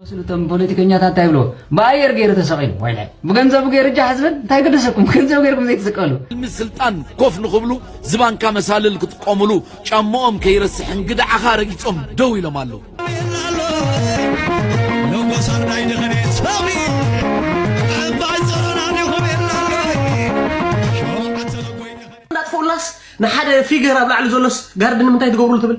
ዝመስሉ እቶም ፖለቲከኛታት እንታይ ይብልዎ ብኣየር ገይሩ ተሰቂሉ ወይለ ብገንዘቡ ገይሩ ጃሕ ዝብል እንታይ ገደሰኩም ብገንዘቡ ገይርኩም ዘይትስቀሉ ሕልሚ ስልጣን ኮፍ ንኽብሉ ዝባንካ መሳልል ክጥቀሙሉ ጫምኦም ከይረስሕ እንግድዓኻ ረጊፆም ደው ኢሎም ኣለዉ። እንዳጥፍኡላስ ንሓደ ፊገር ኣብ ላዕሊ ዘሎስ ጋርድ ንምንታይ ትገብርሉ ትብል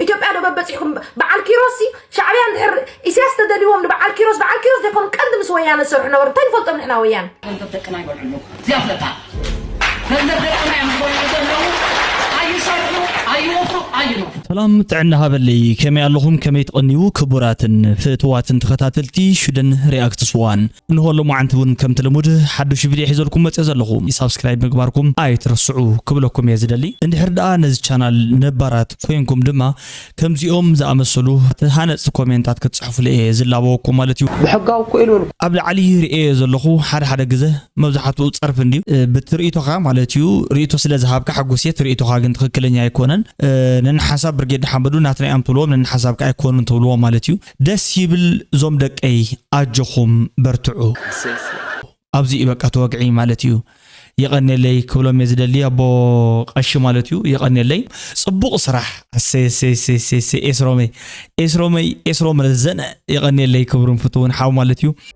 ኢትዮጵያ ዶ በበፂሕኩም በዓል ኪሮስ ሲ ሻዕብያ እንድሕር ኢሳያስ ተደልዎም ንበዓል ኪሮስ በዓል ኪሮስ ዘይኮኑ ቀንዲ ምስ ወያነ ዝሰርሑ ነበሩ እንታይ ንፈልጦም ንሕና ወያነ ገንዘብ ደቅና ይበልዕሉ እዚኣ ፍለጣ ገንዘብ ደቅና እዮም ዝበልዑ ዘለዉ ኣይሰርሑ ኣይወፍሩ ኣይነፍሩ ሰላም ጥዕና ሃበለይ ከመይ ኣለኹም ከመይ ትቐንዩ ክቡራትን ፍእትዋትን ተኸታተልቲ ሽደን ሪኣክትስ ዋን እንሆ ሎማዓንቲ እውን ከምቲ ልሙድ ሓዱሽ ቪድዮ ሒዘልኩም መፅየ ዘለኹ ሳብስክራይብ ምግባርኩም ኣይትረስዑ ክብለኩም እየ ዝደሊ እንድሕር ደኣ ነዚ ቻናል ነባራት ኮይንኩም ድማ ከምዚኦም ዝኣመሰሉ ሃነፅቲ ኮሜንታት ክትፅሕፉለ እየ ዝላበወኩም ማለት እዩ ብሕጋዊ እኮ ኢልወልኩ ኣብ ላዕሊ ርእየ ዘለኹ ሓደ ሓደ ግዘ መብዛሕትኡ ፀርፊ እንድዩ ብትርኢቶኻ ማለት እዩ ርእቶ ስለ ዝሃብካ ሓጉስ እየ ትርኢቶኻ ግን ትኽክለኛ ኣይኮነን ነንሓሳብ ብርጌድ ሓመዱ ናትናዮም ትብልዎም ነንሓሳብካ ኣይኮኑን ትብልዎም ማለት እዩ ደስ ይብል ዞም ደቀይ ኣጆኹም በርትዑ። ኣሰይ ኣሰይ። ኣብዚ እዩ በቃ እቲ ወግዒ ማለት እዩ። የቐኔለይ ክብሎም እየ ዝደሊ ኣቦ ቀሺ ማለት እዩ የቐኔለይ ጽቡቕ ስራሕ ኣሰይ ኣሰይ ኣሰይ ኣሰይ ኣሰይ ኤስሮመይ ኤስሮመይ ኤስሮም ረዘነ የቐኔለይ ክብሩን ፍትውን ሓው ማለት እዩ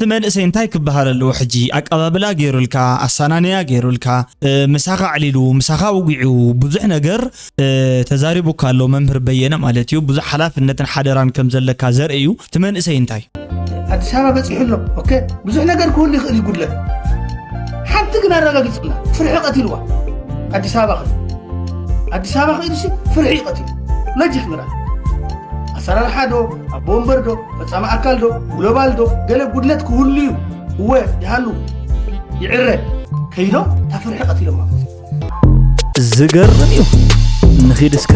እቲ መንእሰይ እንታይ ክበሃል ኣለዎ ሕጂ ኣቀባብላ ገይሩልካ ኣሰናንያ ገይሩልካ ምሳኻ ኣዕሊሉ ምሳኻ ውጒዑ ብዙሕ ነገር ተዛሪቡካ ኣሎ መምህር በየነ ማለት እዩ ብዙሕ ሓላፍነትን ሓደራን ከም ዘለካ ዘርኢ እዩ እቲ መንእሰይ እንታይ ኣዲስ ኣበባ በፂሑ ኣሎ ኦኬ ብዙሕ ነገር ክህሉ ይኽእል እዩ ጉድለት ሓንቲ ግን ኣረጋጊፅላ ፍርሒ ቀቲልዋ ኣዲስ ኣበባ ኸ ኣዲስ ኣበባ ከይዱሲ ፍርሒ እዩ ቀቲሉ ሎጂክ ምራ ኣሰራርሓ ዶ ኣቦ ወንበር ዶ ፈፃሚ ኣካል ዶ ግሎባል ዶ ገለ ጉድለት ክህሉ እዩ እወ ይሃሉ ይዕረ ከይዶም እታ ፍርሒ ቀቲሎማ ዝገርም እዩ ንኺድ እስከ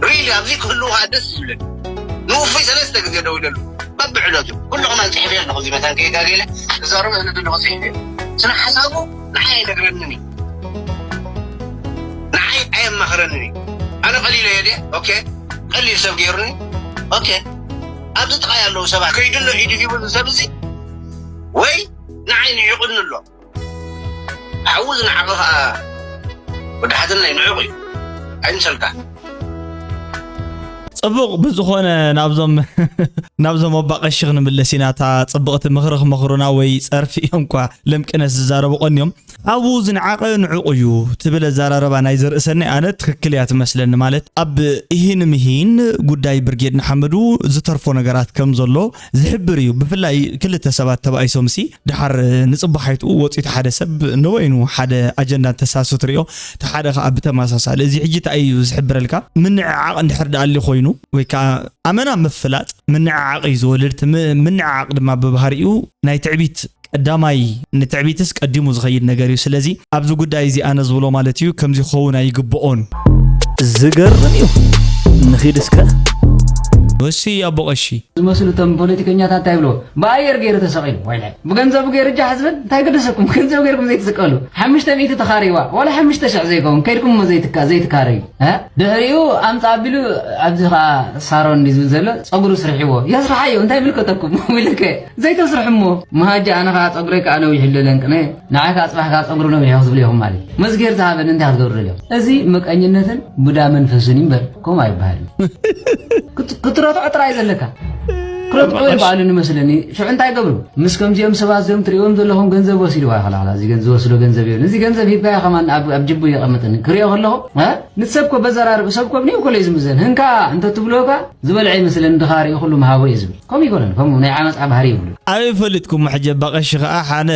ሪሊ ኣብዚ ክህልውካ ደስ ዝብለኒ ንውፉይ ሰለስተ ግዜ ደው ኢለሉ በብዕለቱ ኩሉ ከማን ፅሒፍ ኣለኹ እዚ መታን ከይጋገለ ክዛረብ እህልድ ኣለኹ ፅሒፍ እየ ስነ ሓሳቡ ንዓይ ኣይነግረንን እዩ ንዓይ ኣየማኽረንን እዩ ኣነ ቀሊለ እየ ድየ ኦኬ ቀሊል ሰብ ገይሩኒ ኦኬ ኣብዚ ጥቃይ ኣለዉ ሰባት ከይድሎ ኢዱ ሂቡ ዝሰብ እዚ ወይ ንዓይ ንዒቑኒ ኣሎ ሓዊ ዝነዓቐ ከዓ ወዲ ሓትነይ ንዑቕ እዩ ኣይምሰልካ ጽቡቕ ብዝኾነ ናብዞም ናብዞም ኣባ ቀሺ ክንምለስ ኢና እታ ጽብቕቲ ምኽሪ ክመኽሩና ወይ ጸርፊ እዮም እኳ ልምቅነስ ዝዛረቡ ቀንዮም ኣብኡ ዝንዓቐ ንዕቑ እዩ ትብል ኣዘራረባ ናይ ዘርእሰኒ ኣነ ትክክል እያ ትመስለኒ ማለት ኣብ እሂን ምሂን ጉዳይ ብርጌድ ንሓመዱ ዝተርፎ ነገራት ከም ዘሎ ዝሕብር እዩ ብፍላይ ክልተ ሰባት ተባኢሶምሲ ድሓር ንጽባሓይትኡ ወጽዩ እቲ ሓደ ሰብ ንበይኑ ሓደ ኣጀንዳ እንተሳሱ ትሪኦ እቲ ሓደ ከኣ ብተመሳሳሊ እዚ ሕጂ እንታይ እዩ ዝሕብረልካ ምንዕዓቕ እንድሕር ደኣ ኣልዩ ኮይኑ ወይ ከኣ ኣመና ምፍላጥ ምንዕዓቕ እዩ ዝወልድ እቲ ምንዕዓቕ ድማ ብባህሪኡ ናይ ትዕቢት ቀዳማይ ንትዕቢትስ ቀዲሙ ዝኸይድ ነገር እዩ ስለዚ ኣብዚ ጉዳይ እዚ ኣነ ዝብሎ ማለት እዩ ከምዚ ክኸውን ኣይግብኦን ዝገርም እዩ ንኺድ እስከ ወሲ ኣቦ ቀሺ ዝመስሉ እቶም ፖለቲከኛታት እንታይ ይብልዎ ብኣየር ገይሩ ተሰቂሉ ወይለ ብገንዘቡ ገይሩ እጃ ሕዝብን እንታይ ግደሰኩም ገንዘብ ገይርኩም ዘይትስቀሉ ሓሙሽተ ሚእቲ ተኻሪዋ ዋላ ሓሙሽተ ሽሕ ዘይከውን ከይድኩም እሞ ዘይትካረዩ ድሕሪኡ ኣምፃ ኣቢሉ ኣብዚ ከዓ ሳሮን ዝብል ዘሎ ፀጉሩ ስርሒዎ የስርሓዮ እንታይ ምልከተኩም ኢልከ ዘይተስርሕ እሞ መሃጃ ኣነ ከኣ ጸጉረይ ከኣ ነዊሕ እለ ለንቅነ ንዓይ ከኣ ጽባሕ ከኣ ጸጉሪ ነዊሕ ክትብሉ ኢኹም ማለት እዩ መዝጌር ዝሃበኒ እንታይ ክትገብሩ ደልዮም እዚ መቀኝነትን ቡዳ መንፈስን እምበር ከምኡ ኣይበሃልን ክትረትዖ ጥራይ ዘለካ ክረትዑ ይበዓሉ ንመስለኒ ሽዑ እንታይ ገብሩ ምስ ከምዚኦም ሰባት እዚኦም ትሪእዎም ዘለኹም ገንዘብ ወሲድዋ ይኸላላ እዚ ዝወስዶ ገንዘብ ይብል እዚ ገንዘብ ሂብካዮ ከማን ኣብ ጅቡ የቐምጥኒ ክሪኦ ከለኹ ንሰብ ኮ በዘራርብ ሰብ ኮ ብንኡ ኮለይ ዝምዘን ህንካ እንተትብልዎ ዝበልዐ ይመስል እንድኻ ሪኡ ኩሉ ምሃቦ እዩ ዝብል ከምኡ ኣይኮነን ከምኡ ናይ ዓመጻ ባህሪ የብሉን። ኣበይ ፈሊጥኩሞ ሕጂ እባ ቀሺ ከኣ ሓነ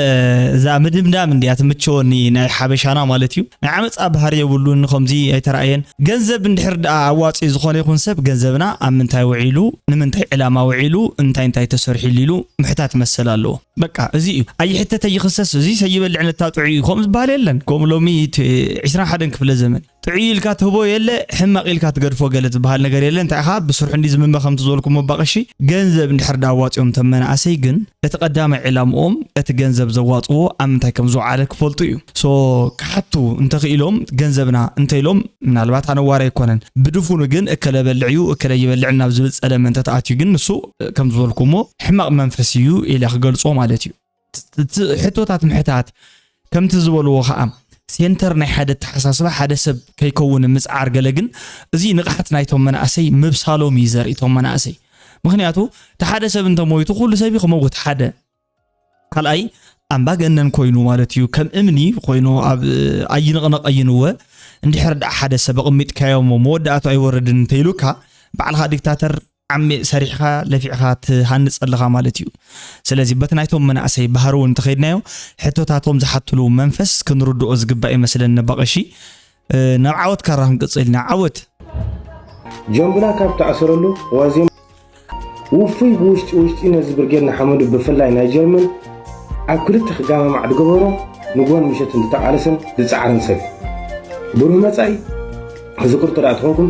እዛ ምድምዳም እንድያ ትምቸወኒ ናይ ሓበሻና ማለት እዩ ናይ ዓመጻ ባህሪ የብሉን ከምዚ ኣይተራእየን ገንዘብ እንድሕር ደኣ ኣዋጺኡ ዝኮነ ይኩን ሰብ ገንዘብና ኣብ ምንታይ ውዒሉ ንምንታይ ዕላማ ውዒሉ እንታይ እንታይ ተሰርሒሉ ኢሉ ምሕታት መሰል ኣለዎ በቃ እዚ እዩ ኣይሕተት ኣይክሰስ እዚ ሰይበልዕ ነታጥዑ እዩ ከምኡ ዝብሃል የለን ከምኡ ሎሚ እቲ ዕስራን ሓደን ክፍለ ዘመን ጥዕይ ኢልካ ትህቦ የለ ሕማቅ ኢልካ ትገድፎ ገለ ዝብሃል ነገር የለን እንታይ ኢኻ ብስርሑ እንዲ ዝምመ ከምቲ ዝበልኩሞ እባ ቀሺ ገንዘብ እንድሕር ዳ ኣዋጺኦም እቶም መናእሰይ ግን እቲ ቀዳማይ ዕላምኦም እቲ ገንዘብ ዘዋጽዎ ኣብ ምንታይ ከም ዝውዓለ ክፈልጡ እዩ ሶ ክሓቱ እንተኽኢሎም ገንዘብና እንተኢሎም ምናልባት ኣነዋሪ ኣይኮነን ብድፉኑ ግን እከለ በልዕ እዩ እከለ ይበልዕ ናብ ዝብል ጸለመ እንተተኣትዩ ግን ንሱ ከም ዝበልኩሞ ሕማቅ መንፈስ እዩ ኢለ ክገልጾ ማለት እዩ ሕቶታት ምሕታት ከምቲ ዝበልዎ ከዓ ሴንተር ናይ ሓደ ኣተሓሳስባ ሓደ ሰብ ከይከውን ምፅዓር ገለ ግን እዚ ንቕሓት ናይቶም መናእሰይ ምብሳሎም እዩ ዘርኢ እቶም መናእሰይ ምክንያቱ እቲ ሓደ ሰብ እንተሞይቱ ኩሉ ሰብ እዩ ክመውት ሓደ ካልኣይ ኣምባገነን ኮይኑ ማለት እዩ ከም እምኒ ኮይኑ ኣብ ኣይንቕነቕ ኣይንወ እንድሕር ደኣ ሓደ ሰብ ኣቕሚጥካዮ እሞ መወዳእቱ ኣይወርድን እንተይሉካ ባዕልኻ ዲክታተር ዓሚእ ሰሪሕኻ ለፊዕኻ ትሃንፅ ኣለኻ ማለት እዩ። ስለዚ በቲ ናይቶም መናእሰይ ባህሪ እውን እንተኸይድናዮ ሕቶታቶም ዝሓትሉ መንፈስ ክንርድኦ ዝግባእ ይመስለኒ በቐሺ ናብ ዓወት ካራ ክንቅፅል ኢና ዓወት ጀምብላ ካብ ተኣሰረሉ ዋዜማ ውፉይ ብውሽጢ ውሽጢ ነዚ ብርጌድ ንሓመዱ ብፍላይ ናይ ጀርመን ኣብ ክልተ ክጋማማዕ ዝገበሮ ንጎን ምሸት እንተተቓለሰን ዝፀዓረን ሰብ ብሩህ መፃኢ እዚ ቅርጡ ዳኣ ትኾንኩም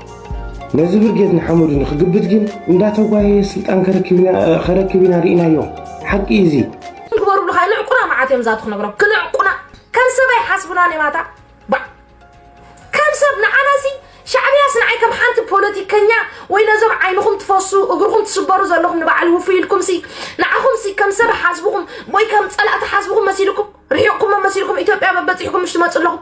ነዚ ብርጌድ ንሓመዱ ንክግብት ግን እንዳተጓየየ ስልጣን ከረክብ ኢና ርኢናዮ ሓቂ እዩ እዚ። ንግበሩሉ ካኣ ንዕቁና መዓት እዮም ዛቱ ክነግሮም ክንዕቁና ከም ሰብ ኣይሓስቡናን እዮም ኣታ ባዕ ከም ሰብ ንዓናሲ ሻዕብያስ ንዓይ ከም ሓንቲ ፖለቲከኛ ወይ ነዞም ዓይንኹም ትፈሱ እግርኹም ትስበሩ ዘለኹም ንበዓል ውፉይ ኢልኩምሲ ንዓኹምሲ ከም ሰብ ሓስብኹም ወይ ከም ጸላእቲ ሓስብኹም መሲልኩም ርሒቕኩም መሲልኩም ኢትዮጵያ በበጺሕኩም ምሽ ትመጹ ኣለኹም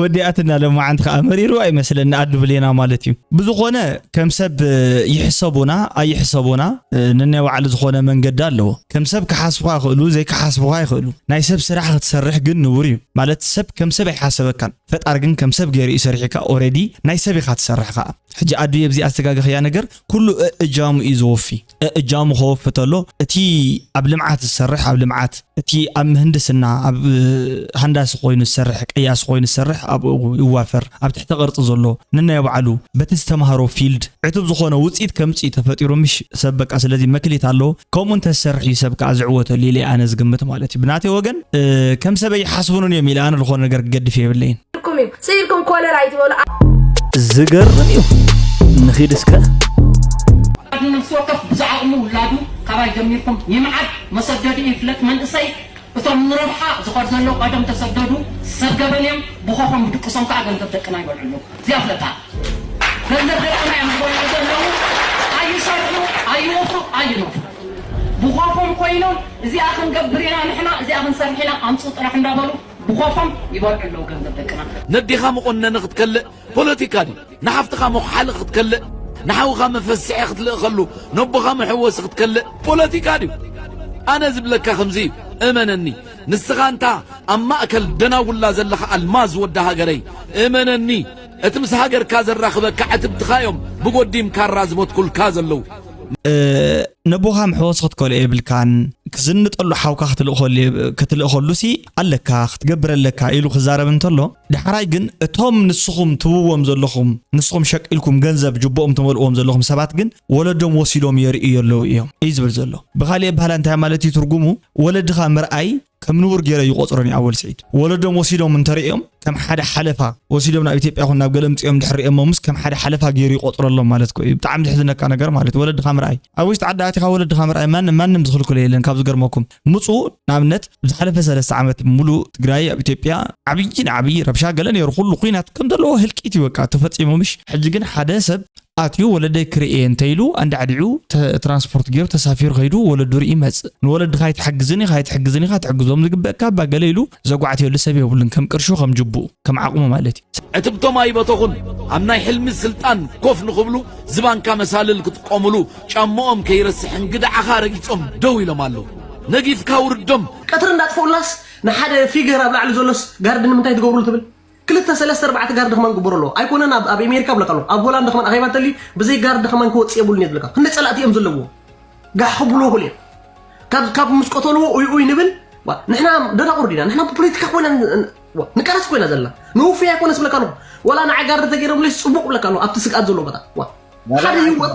ወዲኣትና ለማዓንቲ ከዓ መሪርዋ ይመስለኒ ኣዱ ብሌና ማለት እዩ ብዝኾነ ከም ሰብ ይሕሰቡና ኣይሕሰቡና ንናይ ባዕሉ ዝኾነ መንገዲ ኣለዎ ከም ሰብ ክሓስቡካ ይኽእሉ ዘይክሓስቡካ ይኽእሉ ናይ ሰብ ስራሕ ክትሰርሕ ግን ንቡር እዩ ማለት ሰብ ከም ሰብ ኣይሓሰበካን ፈጣር ግን ከም ሰብ ገይሩ እዩ ሰሪሕካ ኦረዲ ናይ ሰብ ኢኻ ትሰርሕ ከዓ ሕጂ ኣዱ የብዚኣ ዝተጋገኽያ ነገር ኩሉ እእጃሙ እዩ ዘወፊ እጃሙኾ ፍተሎ እቲ ኣብ ልምዓት ዝሰርሕ ኣብ ልምዓት እቲ ኣብ ምህንድስና ኣብ ሃንዳሲ ኮይኑ ዝሰርሕ ቀያሲ ኮይኑ ዝሰርሕ ኣብኡ ይዋፈር ኣብ ትሕተ ቅርፂ ዘሎ ንናይ ባዕሉ በቲ ዝተምሃሮ ፊልድ ዕቱብ ዝኾነ ውፅኢት ከምፅእ ተፈጢሩ ምሽ ሰብ በቃ ስለዚ መክሊት ኣለዎ ከምኡ እንተዝሰርሕ እዩ ሰብ ከዓ ዝዕወተሉ ኢለ ኣነ ዝግምት ማለት እዩ ብናተይ ወገን ከም ሰበይ ሓስቡንን እዮም ኢለ ኣነ ዝኾነ ነገር ክገድፍ የብለይን ትርጉም እዩ ስቅ ኢልኩም ኮለል ኣይትበሉ። ዝገርም እዩ ንኺድ እስከ ወላዲ ነፍሲ ወከፍ ብዝዓቕሙ ውላዱ ካባይ ጀሚርኩም ይምዓድ መሰደድኡ ይፍለጥ መንእሰይ እቶም ንረብሓ ዝኸድ ዘሎ ቀደም ተሰደዱ ሰብ ገበን እዮም ብኾኾም ብድቅሶም ከዓ ገንዘብ ደቅና ይበልዑ ኣለዉ እዚኣ ፍለጣ ገንዘብ ደቅና እዮም ዝበልዑ ዘለዉ ኣይሰርሑ ኣይወፍሩ ኣይነፍሩ ብኾኾም ኮይኖም እዚኣ ክንገብር ኢና ንሕና እዚኣ ክንሰርሕ ኢና ኣምፅኡ ጥራሕ እንዳበሉ ብኾፎም ይበልዑ ኣለዉ ገንዘብ ደቅና። ነዴኻ መቖነኒ ክትከልእ ፖለቲካ ድዩ? ንሓፍትኻ መኹሓሊ ክትከልእ፣ ንሓውኻ መፈስሒ ክትልእኸሉ፣ ነቦኻ መሕወሲ ክትከልእ ፖለቲካ ድዩ? ኣነ ዝብለካ ከምዚ እዩ እመነኒ ንስኻ እንታ ኣብ ማእከል ደናጉላ ዘለኻ ኣልማዝ ወዲ ሃገረይ እመነኒ እቲ ምስ ሃገርካ ዘራኽበካ ዕትብትኻ እዮም ብጎዲም ካራ ዝበትኩልካ ዘለዉ ነቦኻ ምሕወሶ ክትከሎ የብልካን ክዝንጠሉ ሓውካ ክትልእኸሉሲ ኣለካ ክትገብር ኣለካ ኢሉ ክዛረብ እንተሎ ዳሕራይ ግን እቶም ንስኹም ትብዎም ዘለኹም ንስኹም ሸቂልኩም ገንዘብ ጅቦኦም ትመልእዎም ዘለኹም ሰባት ግን ወለዶም ወሲዶም የርእዩ ኣለዉ እዮም እዩ ዝብል ዘሎ ብካሊእ ኣባህላ እንታይ ማለት እዩ ትርጉሙ ወለድኻ ምርኣይ ከም ንቡር ገይረ ይቆፅረን እዩ ኣወል ስዒድ ወለዶም ወሲዶም እንተርእዮም ከም ሓደ ሓለፋ ወሲዶም ናብ ኢትዮጵያ ኹን ናብ ገለ ምፅኦም ድሕሪኦሞምስ ከም ሓደ ሓለፋ ገይሩ ይቆፅረሎም ማለት ኮ እዩ ብጣዕሚ ዝሕዝነካ ነገር ማለት ወለድኻ ምርኣይ ኣብ ውሽጢ ዓዲ ኣቲኻ ወለድኻ ምርኣይ ማንም ማንም ዝኽልክሎ የለን ካብ ዝገርመኩም ምፁ ንኣብነት ብዝሓለፈ ሰለስተ ዓመት ሙሉእ ትግራይ ኣብ ኢትዮጵያ ዓብዪ ንዓብዪ ረብሻ ገለ ነይሩ ኩሉ ኩናት ከም ዘለዎ ህልቂት እዩ በቃ ተፈፂሙ ምሽ ሕጂ ግን ሓደ ሰብ ኣትዩ ወለደይ ክርኢ እየ እንተ ኢሉ ኣንዳዕዲዑ ትራንስፖርት ገይሩ ተሳፊሩ ከይዱ ወለዱ ርኢ ይመጽእ። ንወለድኻ ኣይትሕግዝን ኢኻ ኣይትሕግዝን ኢኻ ትሕግዞም ዝግበእካ እባ ገለ ኢሉ ዘጓዕትየሉ ሰብ የብሉን ከም ቅርሹ ከም ጅቡኡ ከም ዓቕሙ ማለት እዩ። ዕትብቶም ኣይበተኹን ኣብ ናይ ሕልሚ ስልጣን ኮፍ ንኽብሉ ዝባንካ መሳልል ክጥቀሙሉ ጫምኦም ከይረስሕ እንግድዓኻ ረጊጾም ደው ኢሎም ኣለዉ ነጊፍካ ውርዶም። ቀትሪ እንዳጥፍኡልናስ ንሓደ ፊገር ኣብ ላዕሊ ዘሎስ ጋርድ ንምንታይ ትገብርሉ ትብል? ክልተ ሰለስተ ኣርባዕተ ጋርድ ከማን ክግበሮ ኣለዎ ኣይኮነን ኣብ ኣብ ኣሜሪካ ብለካ ኣለዎ ኣብ ሆላንድ ከማን ኣኼባ እንተልዩ ብዘይ ጋርድ ከማን ክወጽእ የብሉን እየ ዝብለካ ክንደይ ጸላእቲ እዮም ዘለዎም ጋሕ ክብልዎ ክእሉ እዮም ካብ ካብ ምስ ቀተልዎ ኡይ ኡይ ንብል ዋ፣ ንሕና ደናቑር ዲና ንሕና ብፖለቲካ ኮይና ን- ን- ዋ፣ ንቃለስ ኮይና ዘለና ንውፍይ ኣይኮነስ ብለካ ኣለኹ ወላ ንዓ ጋርድ ተገይሮምለይስ ጽቡቕ ብለካ ኣለኹ ኣብቲ ስግኣት ዘለዎ ቦታ ዋ፣ ሓደ ህይወት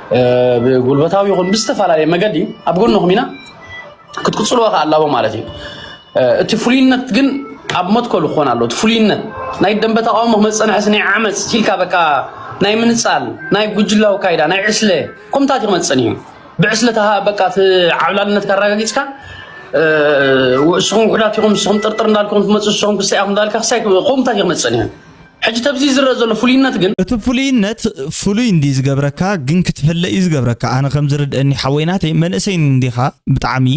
ብጉልበታዊ ይኹን ብዝተፈላለየ መገዲ ኣብ ጎንኹም ኢና ክትቅፅልዎ ከዓ ኣላቦ ማለት እዩ እቲ ፍሉይነት ግን ኣብ መትከሉ ክኾን ኣሎ እቲ ፍሉይነት ናይ ደንበ ተቃውሞ ክመፅእ ንሕስ ናይ ዓመፅ ሲልካ በቃ ናይ ምንፃል ናይ ጉጅላዊ ካይዳ ናይ ዕስለ ኮምታት ክመፅን እዩ ብዕስለ በቃ ዓብላልነት ካረጋጊፅካ ንስኹም ውሕዳት ኢኹም ንስኹም ጥርጥር እንዳልኩም ትመፁ ንስኹም ክሳይ ኢኹም እንዳልካ ክሳይ ኮምታት ክመፅን እዩ ሕጂ ተብዚ ዝረእ ዘሎ ፍሉይነት ግን። እቲ ፍሉይነት ፍሉይ እንድዩ ዝገብረካ ግን ክትፈለ እዩ ዝገብረካ ኣነ ከም ዝርድእኒ ሓወይ ናተይ መንእሰይ እንዲኻ ብጣዕሚ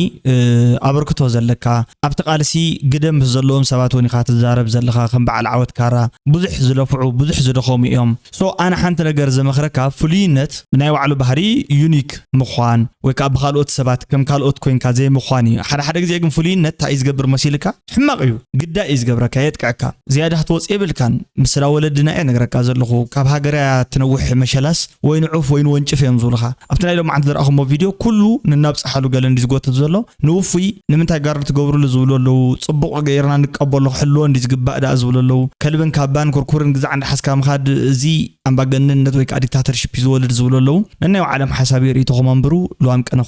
ኣበርክቶ ዘለካ ኣብቲ ቃልሲ ግደ ምስ ዘለዎም ሰባት ውን ኢኻ ትዛረብ ዘለኻ ከም በዓል ዓወት ካራ ብዙሕ ዝለፍዑ ብዙሕ ዝደኸሙ እዮም ሶ ኣነ ሓንቲ ነገር ዝመኽረካ ፍሉይነት ናይ ባዕሉ ባህሪ ዩኒክ ምዃን ወይ ከዓ ብካልኦት ሰባት ከም ካልኦት ኮይንካ ዘይምዃን እዩ ሓደ ሓደ ግዜ ግን ፍሉይነት ታይ እዩ ዝገብር መሲልካ ሕማቅ እዩ ግዳይ እዩ ዝገብረካ የጥቅዐካ ዝያዳ ክትወጽእ የብልካን ብስላ ወለድና እየ ነግረካ ዘለኩ ካብ ሃገር እያ ትነውሕ መሸላስ ወይን ዑፍ ወይን ወንጭፍ እዮም ዝብሉካ ኣብቲ ናይ ሎምዓንቲ ዝረኣኩሞ ቪድዮ ኩሉ ንናብጽሓሉ ገለ እንድዩ ዝጎትት ዘሎ ንውፉይ ንምንታይ ጋርድ ትገብርሉ ዝብሉ ኣለዉ ጽቡቅ ገይርና ንቀበሎ ክሕልዎ እንድዩ ዝግባእ ደኣ ዝብሉ ኣለዉ ከልብን ካባን ኩርኩርን ግዛዕ እንዳሓዝካ ምካድ እዚ ኣምባገነንነት ወይ ከኣ ዲክታተርሽፕ እዩ ዝወልድ ዝብሉ ኣለዉ ነናይ ባዓሎም ሓሳብ እዩ ሪኢቶኩም ኣንብሩ ልዋም ቅነ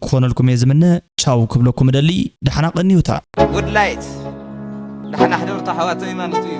ክኮነልኩም እየ ዝምነ ቻው ክብለኩም እደሊ ዳሕና ቀንዩታ። Woodlight ዳሕና ሕደሩታ ኣሕዋተይ ማለቱ እዩ።